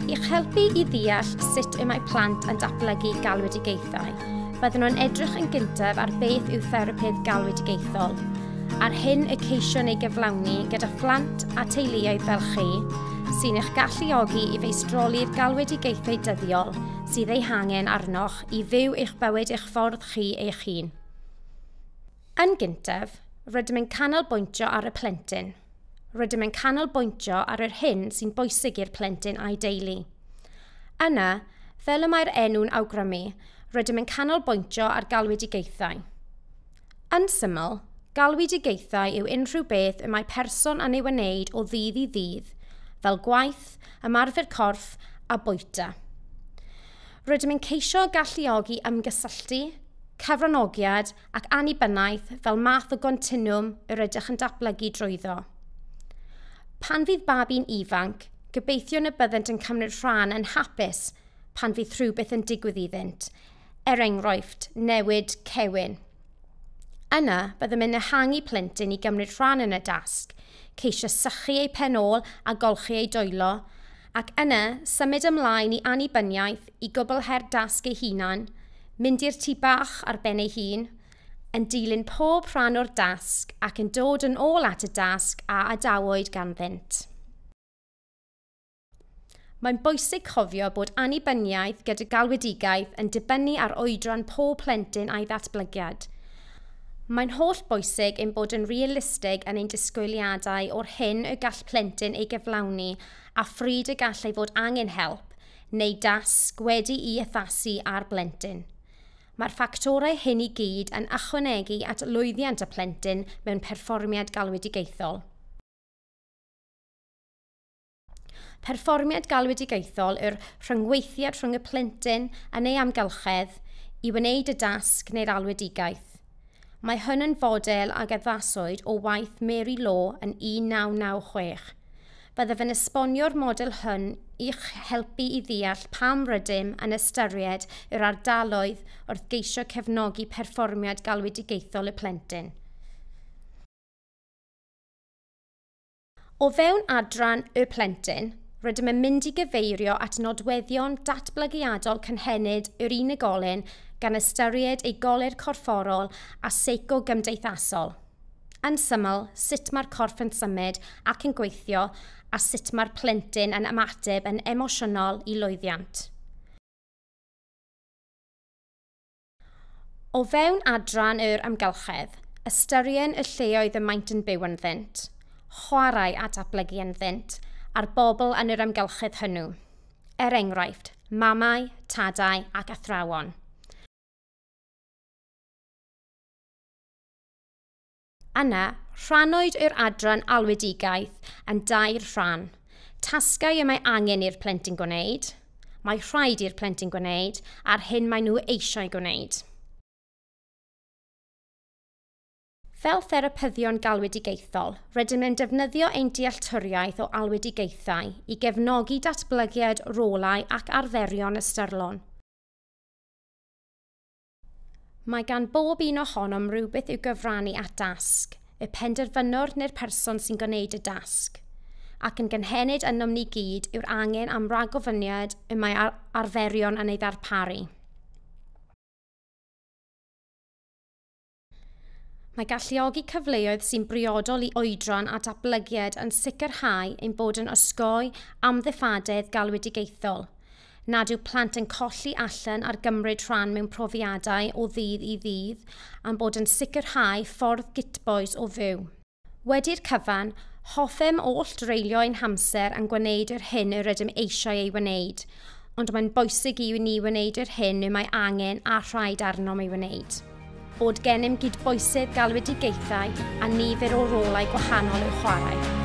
I'ch helpu i ddeall sut y mae plant yn datblygu galwedigaethau, byddwn nhw'n edrych yn gyntaf ar beth yw therapydd galwedigaethol, a'r hyn y ceision ei gyflawni gyda phlant a teuluoedd fel chi, sy'n eich galluogi i feistroli'r galwedigaethau dyddiol sydd eu hangen arnoch i fyw eich bywyd eich ffordd chi eich hun. Yn gyntaf, rydym yn canolbwyntio ar y plentyn. Rydym yn canolbwyntio ar yr hyn sy'n bwysig i'r plentyn a'i deulu. Yna, fel y mae'r enw'n awgrymu, rydym yn canolbwyntio ar galwedigaethau. Yn syml, galwedigaethau yw unrhyw beth y mae person yn ei wneud o ddydd i ddydd, fel gwaith, ymarfer corff a bwyta. Rydym yn ceisio galluogi ymgysylltu, cyfranogiad ac annibyniaeth fel math o gontinwwm yr ydych yn datblygu drwyddo. Pan fydd babi'n ifanc, gobeithiwn y byddent yn cymryd rhan yn hapus pan fydd rhywbeth yn digwydd iddynt, er enghraifft, newid cewyn. Yna, byddem yn ehangu plentyn i gymryd rhan yn y dasg, ceisio sychu eu pen ôl a golchi eu dwylo, Ac yna, symud ymlaen i annibyniaeth, i gwblhau'r dasg ei hunan, mynd i'r tŷ bach ar ben ei hun, yn dilyn pob rhan o'r dasg ac yn dod yn ôl at y dasg a adawyd ganddynt. Mae'n bwysig cofio bod annibyniaeth gyda galwedigaeth yn dibynnu ar oedran pob plentyn a'i ddatblygiad. Mae'n holl bwysig ein bod yn realistig yn ein disgwyliadau o'r hyn y gall plentyn ei gyflawni a phryd y gallai fod angen help neu dasg wedi'i addasu ar blentyn. Mae'r ffactorau hyn i gyd yn ychwanegu at lwyddiant y plentyn mewn perfformiad galwedigaethol. Perfformiad galwedigaethol yw'r rhyngweithiad rhwng y plentyn yn ei amgylchedd i wneud y dasg neu'r alwedigaeth. Mae hwn yn fodel ag addaswyd o waith Mary Law yn 1996. Byddaf yn esbonio'r model hwn i'ch helpu i ddeall pam rydym yn ystyried yr ardaloedd wrth geisio cefnogi perfformiad galwedigaethol y plentyn. O fewn adran Y Plentyn, rydym yn mynd i gyfeirio at nodweddion datblygiadol cynhenid yr unigolyn gan ystyried ei goler corfforol a seico-gymdeithasol. Yn syml, sut mae'r corff yn symud ac yn gweithio a sut mae'r plentyn yn ymateb yn emosiynol i lwyddiant. O fewn adran yr amgylchedd, ystyrien y lleoedd y maent yn byw ynddynt, chwarae a datblygu ynddynt, a'r bobl yn yr amgylchedd hwnnw. Er enghraifft, mamau, tadau ac athrawon. Yna, rhannwyd yr adran alwedigaeth yn dair rhan. Tasgau y mae angen i'r plentyn gwneud, mae rhaid i'r plentyn gwneud a'r hyn maen nhw eisiau gwneud. Fel therapyddion galwedigaethol, rydym yn defnyddio ein dealltwriaeth o alwedigaethau i gefnogi datblygiad rolau ac arferion ystyrlon. Mae gan bob un ohonom rywbeth i'w gyfrannu at dasg, y penderfynwr neu'r person sy'n gwneud y dasg. Ac yn gynhenid ynom ni gyd yw'r angen am ragofyniad y mae ar arferion yn ei ddarparu. Mae galluogi cyfleoedd sy'n briodol i oedran a datblygiad yn sicrhau ein bod yn osgoi amddiffadedd galwedigaethol, nad yw plant yn colli allan ar gymryd rhan mewn profiadau o ddydd i ddydd, a'n bod yn sicrhau ffordd gytbois o fyw. Wedi'r cyfan, hoffem oll dreulio ein hamser yn gwneud yr hyn yr ydym eisiau ei wneud, ond mae'n bwysig i ni wneud yr hyn y mae angen a rhaid arnom ei wneud. Bod gennym gydbwysedd galwedigaethau a nifer o rolau gwahanol i'w chwarae.